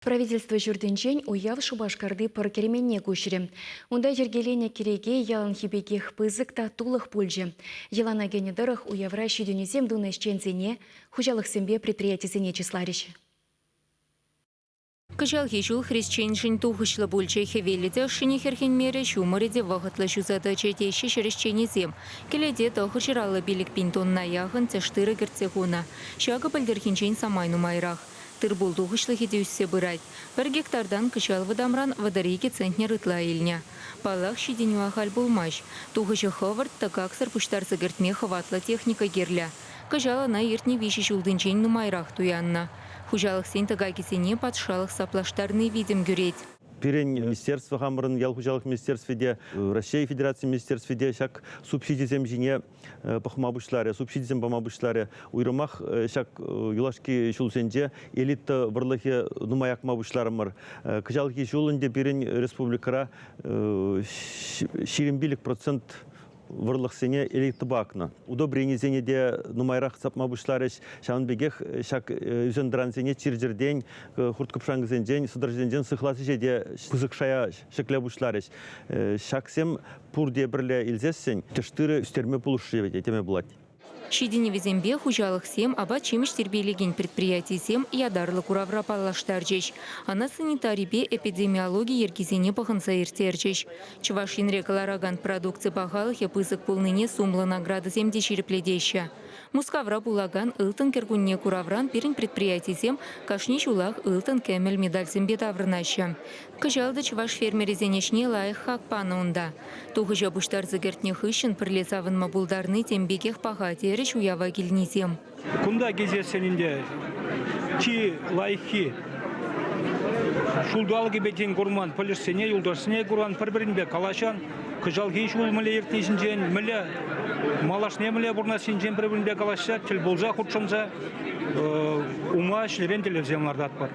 Правительство ҫуртӗнчен уяв Шупашкарти пӑр керменне куҫрӗ. Унта йӗркеленӗ кӗреке яланхи пекех пысӑк та тулӑх пулчӗ. Йӑлана кӗнӗ тӑрӑх уявра ҫитӗнӳсем тунӑ ӗҫченсене, хуҫалӑхсемпе предприятисене чысларӗҫ. Кӑҫалхи ҫул хресченшӗн тухӑҫлӑ пулчӗ. Хӗвеллӗ те ӑшшине хӗрхенмерӗ, ҫумӑрӗ те вӑхӑтлӑ ҫуса тӑчӗ, теҫҫӗ ҫӗр ӗҫченӗсем. Кӗлете тӑхӑр ҫӑраллӑ пилӗк пин тонна яхӑн тӗш тырӑ кӗртсе хунӑ. Ҫакӑ пӗлтӗрхинчен самай нумайрах. Тыр-пул тухӑҫлӑхӗ те ӳссе пырать. Пӗр гектартан кӑҫал вӑтамран вӑтӑр икӗ центнер ытла илнӗ. Паллах, ҫитӗнӳ ахаль пулмасть. Тухӑҫӗ хӑвӑрт, тӑкаксӑр пуҫтарса кӗртме хӑватлӑ техника кирлӗ. Кӑҫал ӑна иртнӗ виҫӗ ҫултинчен нумайрах туяннӑ. Хуҫалӑхсен тӑкакӗсене патшалӑх саплаштарни витӗм кӳрет. Пирӗн министерство хамӑрӑн ял хуҫалӑх министерстви те, Раҫҫей Федерацийӗн министерстви те ҫак субсидисем ҫине пӑхма пуҫларӗ, субсидисем пама пуҫларӗ. Уйрӑмах ҫак юлашки ҫулсенче элита вӑрлӑхӗ нумай акма пуҫларӑмӑр. Кӑҫалхи ҫул ӗнтӗ пирӗн республикӑра ҫирӗм пилӗк процент вӑрлӑхсене элитӑпа акнӑ. Удобренисене те нумайрах сапма пуҫларӗҫ. Ҫавӑн пекех ҫак ӳсен-тӑрансене чир-чӗртен, хурт-кӑпшанкӑсенчен, сӑтӑрҫӑсенчен сыхлас ӗҫе те пысӑк шая ҫӗкле пуҫларӗҫ. Ҫаксем пурте пӗрле илсессӗн тӗш тырӑ ӳстерме пулӑшрӗ вӗт теме пулать. Ҫитӗнӗвӗсемпе хуҫалӑхсем апат-ҫимӗҫ тирпейлекен предприятисем ятарлӑ куравра паллаштарчӗҫ, ӑна санитарипе эпидемиологи йӗркисене пӑхӑнса ирттерчӗҫ. Чӑваш Енре кӑларакан продукци пахалӑхӗ пысӑк пулнине сумлӑ наградӑсем те ҫирӗплетеҫҫӗ. Мускавра пулакан Ылтӑн кӗркунне куравран пирӗн предприятисем кашни ҫулах ылтӑн-кӗмӗл медальсемпе таврӑнаҫҫӗ. Кӑҫал та чӑваш фермерӗсен ӗҫне лайӑх хак панӑ унта. Тухӑҫа пуҫтарса кӗртнӗ хыҫҫӑн пӗрле савӑнма пултарни тем пекех паха, терӗҫ уява килнисем. Кунта килсессӗн ӗнтӗ чи лайӑххи ҫулталӑкӗпе тен курман пӗлӗшсене, юлташсене куран, пӗр-пӗринпе калаҫан. Кӑҫалхи ҫул мӗнле иртни ҫинчен, мӗнле малашне мӗнле пурӑнассинчен пӗр-пӗринпе калаҫса, тӗл пулса хутшӑнса ума ӗҫлекен тӗллевсем лартатпӑр.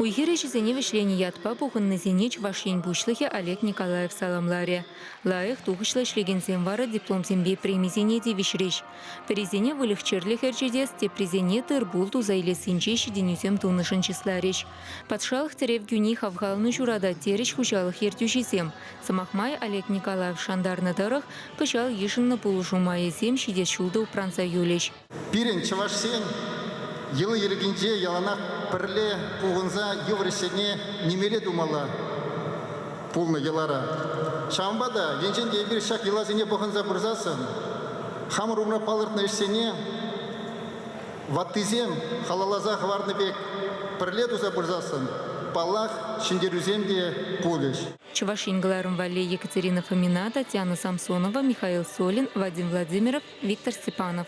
Уй-хир ӗҫӗсене вӗҫленӗ ятпа пухӑннисене Чӑваш Ен Пуҫлӑхӗ Олег Николаев саламларӗ. Лайӑх тухӑҫлӑ ӗҫлекенсем вара дипломсемпе премисене тивӗҫрӗҫ. Пӗрисене выльӑх-чӗрлӗх ӗрчетес, теприсене тыр-пул туса илессинче ҫитӗнӳсем тунӑшӑн чысларӗҫ. Патшалӑх тӗрев кӳни хавхалану ҫуратать, терӗҫ хуҫалӑх ертӳҫисем. Сӑмах май, Олег Николаев шантарнӑ тӑрӑх, кӑҫал йышӑннӑ пулӑшу майӗсем ҫитес ҫул та упранса юлӗҫ. Пирӗн чӑвашсен йӑли-йӗркинче яланах пӗрле пухӑнса йывӑр ӗҫсене нимелле тумалла пулнӑ йӑлара. Ҫавӑнпа та енчен те эпир ҫак йӑласене пӑхӑнса пырсассӑн хамӑр умра палӑртнӑ ӗҫсене ваттисем халалласа хӑварнӑ пек пӗрле туса пырсассӑн, паллах, ҫӗнтерӳсем те пулӗҫ. Чӑваш Ен кӑларӑм валли Екатерина Фомина, Татьяна Самсонова, Михаил Солин, Вадим Владимиров, Виктор Степанов.